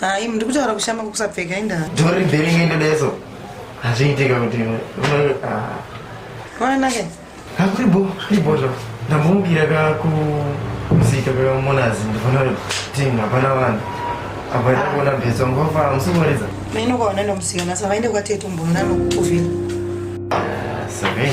Hayi muri kutaura kushama kwekusapfeka indaa. Dhori bheri ngendedeso. Hazviitike kuti ah. Kwaana ke? Hakuri bo, kuri bo zvo. Ndambomukira ka ku musika ka monazi ndifana kuti hapana vanhu. Apa ndakona bhetso ngofa musikuwaridza. Maino kwaona ndomusika nasa vaende kwatetu mbona nokuvira. Ah, Sabe.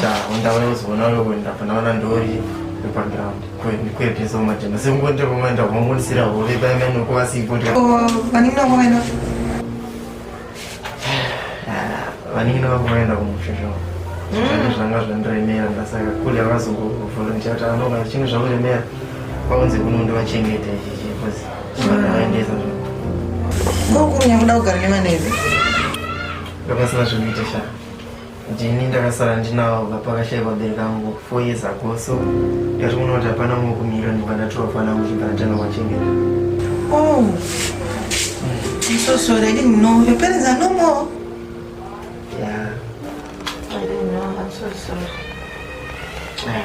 sha undawe uzoona uri kuenda pana vana ndori wepaground kuepesa kumajana sekungoita pamaenda kumamonisira hove paimene ukuvasipo vaningina kwavaenda vaningina vakuvaenda kumusha zvavo mm. zvanga zvandiremera ndasaka kuli avazongovolontia kuti anoka chinhu zvakuremera vaunze kuno ndivachengete ichichi bcause chivanaendesa zva kokurunya kuda kugara nevaneve ndopasina zvinoita shaa ndini ndakasara ndinawo vapakashaya vabereki vangu four years ago so ndatoona kuti hapana mumwe kumira ndibva ndatora fana angu chibva ndatanga kwachengeta oh i'm so sorry i didn't know your parents are no more yeah i didn't know i'm so sorry yeah.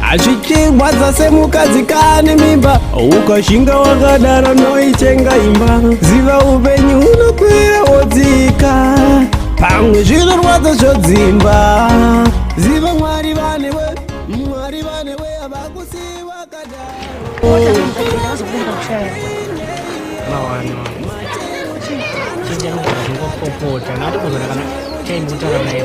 Hazvichirwadza semukadzi kane mimba ukashinga wakadaro noichenga imba ziva upenyu unokwira wodzika pamwe zvinorwadza zvodzimba ziva mwari vanewe mwari vanewe havakusiyi wakadaro Chinja nokuzvingopopota, nati kuzana kana chaimutara naye.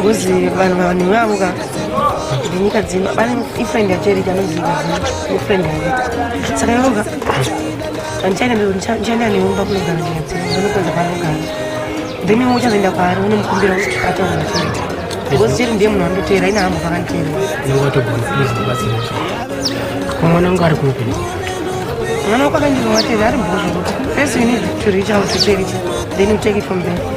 Ngozi vanhu vanhu vavo ka ndinyika dzino pane ifriend yacherika anoziva ifriend yangu saka yoga andichaenda ndichaenda neumba kunogara nyika dzino ndinokuenza kwanogara then iwe uchazoenda kwaari unomukumbira kuti ataura nacherika ngozi cheri ndiye munhu andoteera ine hambo vakanditeera mwana wangu ari kupi mwana wako akandirova teve ari bhozvo kuti first you need to reach out to cherika then you take it from there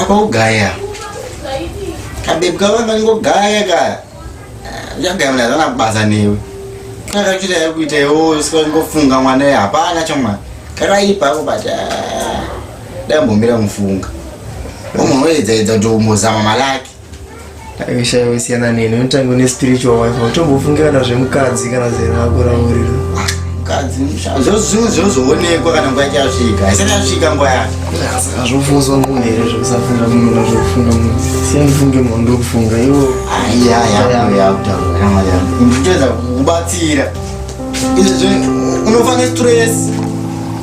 apa ugaya kabebi kava kangogaya ka uchagaya mna zana kubasa newe kakakuita yekuita iwo sikangofunga mwana ye hapana chomwana kakaipa ako but ah, dai mbomira mufunga umonoedzaedza kuti umbozama malaki aishaiwa siyana neni unotanga une spiritual wife utombofungira na zvemukadzi kana zeraakuraurira mukadzi zvozoonekwa kana nguva ichasvika haisati yasvika nguva yacho azvofunzwa munhu here zvekusafunda munhu na zvekufunga munhu siyandifunge munhu ndokufunga iwo aiyayaakutoedza kubatsira izvezvo unofa nestress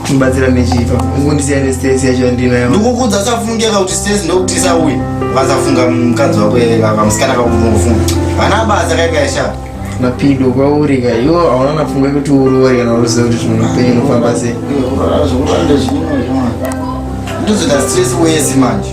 ndibatsira nechipa ungondisiya nestress yacho yandinayo ndikukuudza usafungeka kuti stress ndokuti isauye vasafunga mukadzi wako kamusikana kakunofunga vana basa kaikaishaa mapido kwauri ka iwo hauna napfungwa yekuti uroore kana uruziva kuti zvimwe upenyu unofamba sei ndozoda stress wese manje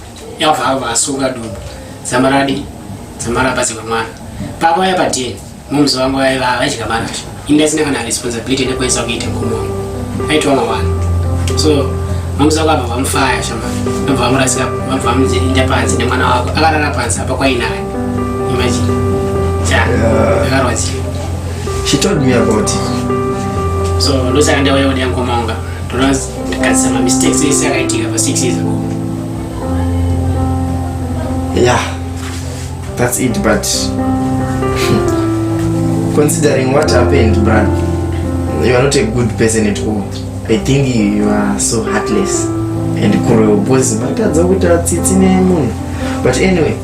yabva ava asunga dumbu zamaradi zamara apazika mwana papa aya padn mumzi wangu aiva vaidya marasha ini asina kana responsibility nekuedza kuita mkumi wangu aitwa mawana so mumzi wangu abva vamufaya shama abva vamurasika abva vamuinda panzi nemwana wako akarara panzi apa kwainaye imagine ja akarwadziwa she told me about it so ndosaka ndauya kuda mkoma wanga Kugadzisa mamistakes ese akaitika pa six years ago. Yeah, that's it but considering what happened, Brad, you are not a good person at all. I think you are so heartless and cruel. Boys, matadza kuita tsitsi nemunhu. But anyway,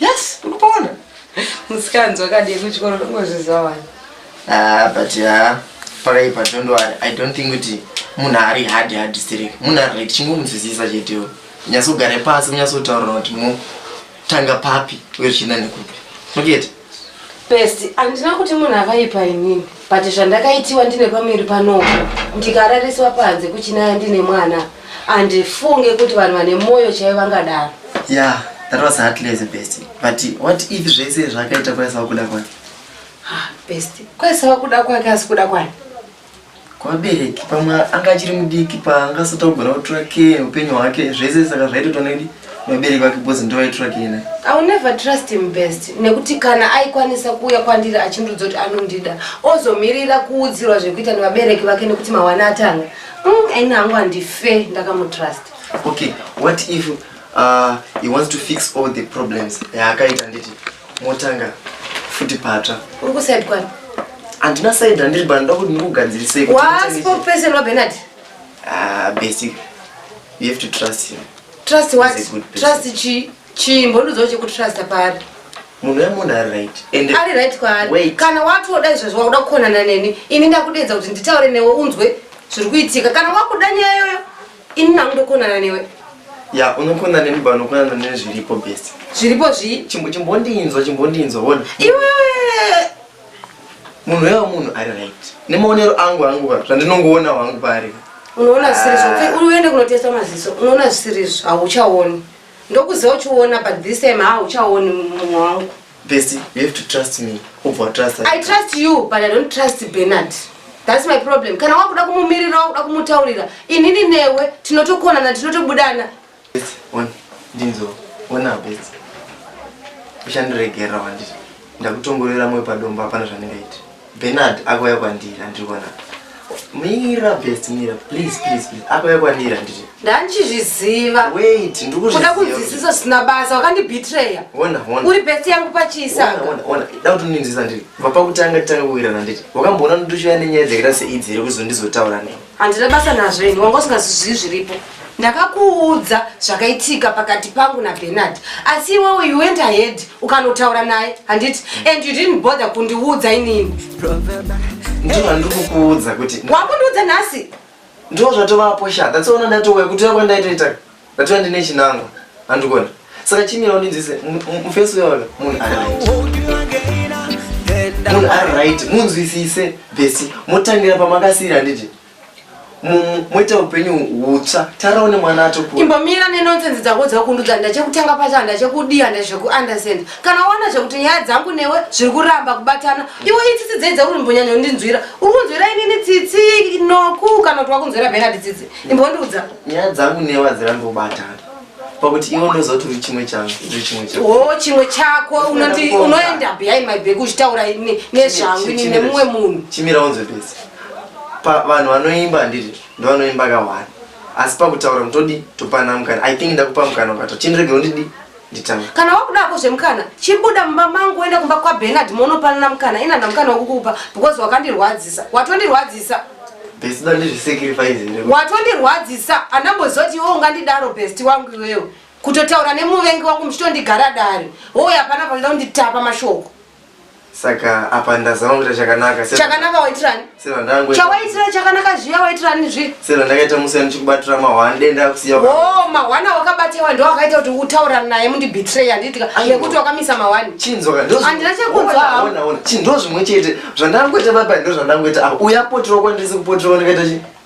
yes urikuona musikanzi wakadii kuchikoro ndongozviziva wani ah, but ah, pakaipa don't worry i don't think kuti munhu ari hard hard sterek munhu ari right chingomudzidzisa chetewo nyatsogare pasi munyatsotaurira kuti motanga papi uye zvichienda nekupi okete best handina kuti munhu akaipa inini but zvandakaitiwa ndine pamiri panopo ndikarariswa panze kuchinaya ndine mwana handifunge kuti vanhu vane mwoyo chaiyo vangadaro yeah that was hardly as a best but what if zvese zvakaita kwaisa wakuda kwani ah, best kwaisa wakuda kwake asi kuda kwani kwabereki pamwe anga achiri mudiki paangasatogona kutora ke upenyu hwake zvese saka zvaitotwa nekudi vabereki vake bhozi ndovaitrake ine iwill never trust him best nekuti kana aikwanisa kuuya kwandiri achindudza kuti anondida ozomirira kuudzirwa zvekuita nevabereki vake nekuti mawana atanga mm, ini hangu handife ndakamutrust okay what if uh, he wants to fix all the problems yaakaita nditi motanga futi patsva uri kusaid kwani handina said handiri banoda kuti ndikugadzirisei waspokesman wabenard Ah, basic. You have to trust him. Trust what? He's a good person. Trust chi chi mbondozo che kutrusta pari. Munhu ya munhu ari right. And ari right kwari. Wait. Kana watu woda izvo zvakuda kukonana neni, ini ndakudedza kuti nditaure newe unzwe zviri kuitika. Kana wakuda nyaya yoyo, ini nangu ndokonana newe. Ya, unokona neni ba unokona neni zviripo best. Zviripo zvi? Chimbo chimbondinzwa, chimbondinzwa, wona. Iwe munhu weva munhu ari right nemaonero angu angu ka zvandinongoona wangu paari unoona zvisirizvo ah. uende kunotesta maziso unoona zvisirizvo hauchaoni ndokuziva uchiona but this time hauchaoni mumwe wangu besti you have to trust me ubva watrust i trust you but i don't trust benard thats my problem kana wakuda kumumirira wakuda kumutaurira inini newe tinotokonana tinotobudana ndinzo ona best uchandiregerera wanditi ndakutongorera moyo padombo hapana zvandingaiti benard akauya kwandiri andiri kuona mira best mira please please please akauya kwandiri anditi ndandichizviziva wait ndikuda kunzwisisa zvisina basa wakandibitreya ona ona uri best yangu pachisa ona ona da kuti ndinzwisisa ndiri vapakutanga titanga kuwirana nditi wakamboona ndituchiva nenyaya dzekita seidzi here kuzondizotaura nei handina basa nazvo ini wanga usingazvizivi zviripo ndakakuudza zvakaitika pakati pangu nabenard asi iwewe you went ahead ukanotaura naye handiti and you didn't bother kundiudza inini ndizvo handiri kukuudza kuti wakundiudza nhasi ndizvo zvatovapo sha that's one ndatouya kuti uya kwandaitoita Ndatoya ndine chinangwa andikona saka chimira undinzwise mufesi uyona munhu ari right munhu ari right munzwisise besi motangira pamakasiyira handiti moita upenyu hutsva taraone mwana atokura imbomira nenonsense dzako dzakundudza ndachekutanga pacho handachekudii handazvekuunderstand kana waona zvekuti nyaya dzangu newe zviri kuramba kubatana iwe itsitsi dzei dzauri mbonyanya kundinzwira uri kunzwira inini tsitsi noku kana kuti wakunzwira benard tsitsi imbondiudza nyaya dzangu newe hadzirambi kubatana pakuti iwe ndozoti uri chimwe changu uri chimwe changu oh chimwe chako unoti unoenda behind my back uchitaura nezvangu ini nemumwe munhu chimira unzwe pese vanhu vanoimba handiti ndovanoimba kawani asi pakutaura mutodi topana mukana i think ndakupa mukana ukato chindiregero ndidi Nditanga. Kana wakuda hako zvemukana, chibuda mumba mangu uende kumba kwaBernard monopanana mukana. Ina ndamukana wokukupa because wakandirwadzisa. Watondirwadzisa. Best dandi zvisacrifice here? Watondirwadzisa. Andamboziva kuti iwe ungandidaro best wangu iwewe. Kutotaura nemuvengi wangu muchitondigara dare. Wowe hapana panoda kunditapa mashoko. Saka apa ndazama kuita chakanaka. Chakanaka waitirani? Sera ndangu. Chawaitira chakanaka zviya waitirani zvi? Sera ndakaita musi andichikubatira mahwani denda kusiya. Oh, mahwani wakabatiwa ndiwo akaita kuti utaura naye mundi betray anditika nekuti wakamisa mahwani. Chinzwa ndo. Andina chekunzwa. Ona ona. Chinzwa zvimwe chete. Zvandangoita baba ndo zvandangoita apa. Uya potiro kwandisi kupotiro ndikaita chi?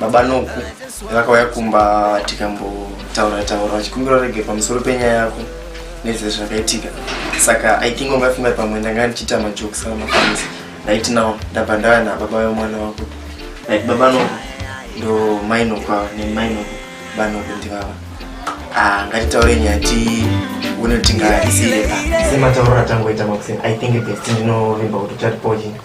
baba noku vakauya kumba tikambotaura taura vachikumbira rege pamusoro penyaya yako nezve zvakaitika saka i think ungafunga pamwe ndanga ndichiita majokes avo mafans right now ndabva ndava nababa vemwana wako like baba noku ndo mai noku ava nemai noku banoku ndivava ah, ngatitaure nyaya ti une kuti ngaisire sematauro atangoita makuseni i think best ndinovimba kuti tatipochina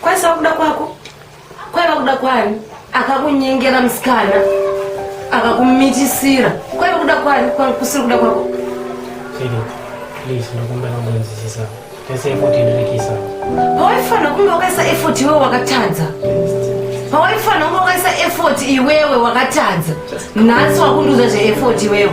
Kwaisa kuda kwako kwaiva kuda kwani akakunyengera musikana akakumitisira kwaiva kuda kwani kusiri kuda kwako pawaifanira kunge wakaisa effort iwewe wakatadza pawaifanira kunge wakaisa effort iwewe wakatadza nhasi wakundiudza zveeffort iwewe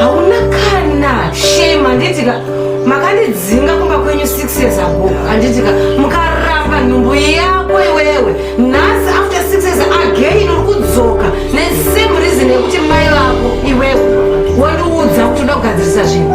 hauna kana shame handitika makandidzinga kumba kwenyu six years ago handitika mukaramba nhumbu yako iwewe nhasi after six years again uri kudzoka nesame reason yekuti mai vako iwewe wondiudza kuti uda kugadzirisa zvinhu